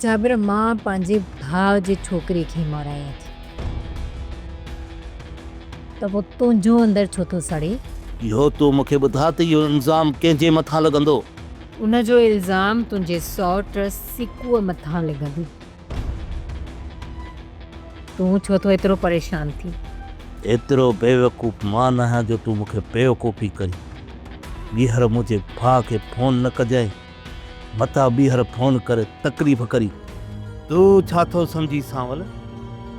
جابر مان پنهنجي ڀاء جي ڇوڪري کي ماريائين ٿي ته پوء تنهنجو اندر ڇو ٿو سڙي؟ اهو تون مون کي ٻڌاء ته اهو الزام ڪنهن جي مٿان لڳندو؟ ان جو الزام تنهنجي سئوٽ سيڪوء مٿان لڳندو. تون ڇو ٿو ايترو پريشان ٿين؟ ايترو بيوقوف مان نه آهيان جو تون مون کي بيوقوفي ڪرين. ٻيهر منهنجي ڀاء کي فون نه ڪجانء. متان ٻيهر فون ڪري تڪليف ڪرين. تون ڇا ٿو سمجهين سانول؟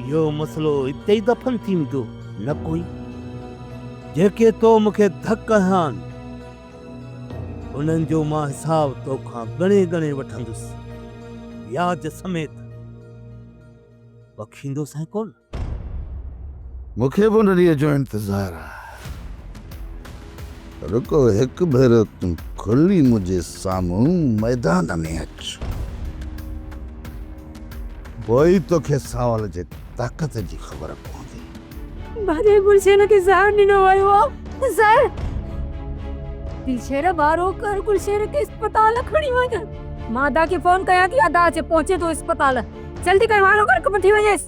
اهو مسئلو اتي ئي دفن ٿي ويندو. نه ڪوئي. جيڪي تو مون کي ڌڪ هنيا آهن. انهن جو مان حساب تو کان ڳڻي ڳڻي وٺندس، وياج سميت. بخشيندو سائين ڪونه. مون کي به ان ڏينهن جو انتظار آ. رڳو هڪ ڀيرو تون کلي منهنجي سامهون ميدان ۾ اچ. پوء ئي توکي ساول جي طاقت جي خبر پوندي. ڀڄي گلشن کي زهر ڏنو ويو آ. زهر! دلشير وارو ڪر گلشن کي اسپتال کڻي وڃ. مان ادا کي فون ڪيان ٿي ادا اچي پهچي ٿو اسپتال جلدي ڪر وارو ڪر وٺي وڃيس.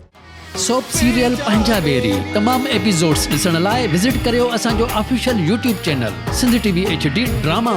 سوپ سيريل پنهنجا ويري تمام ايپيزوڊس ڏسڻ لاء وزٽ ڪريو اسان جو official YouTube channel Sindh T V H D drama.